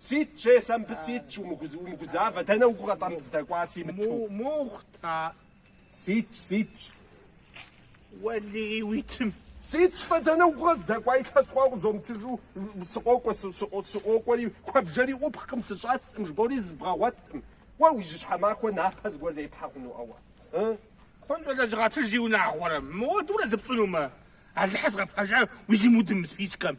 Сыт щӏа сэ мыбы сыт щӏ умыгузавэ дэнэ угу къыщӏэмыздэкӏуар си Мыту. Мухътар. Сыт щӏ сыт щӏ. Уэлий уи тым. Сыт щӏ-тӏэ дэнэ угу къэздэкӏуа илъэс хъуа узэмытыжу сыкъокӏуэ сыкъокӏуэри куэбжэри ӏупхкъым сыщӏэскъым жыбоӏэри зызбгъэгъуэткъым. Уэ уи жьы щхьэмахуэ напэ зыгуэр зепхьэ хъуну а уэ. Ы? Хъункӏэ лэжьыгъэ, джы зи унагъуэрэ мыуэдурэ зыпщӏынумэ. Алыхьыр згъэпэжа уи зимудым спискэм.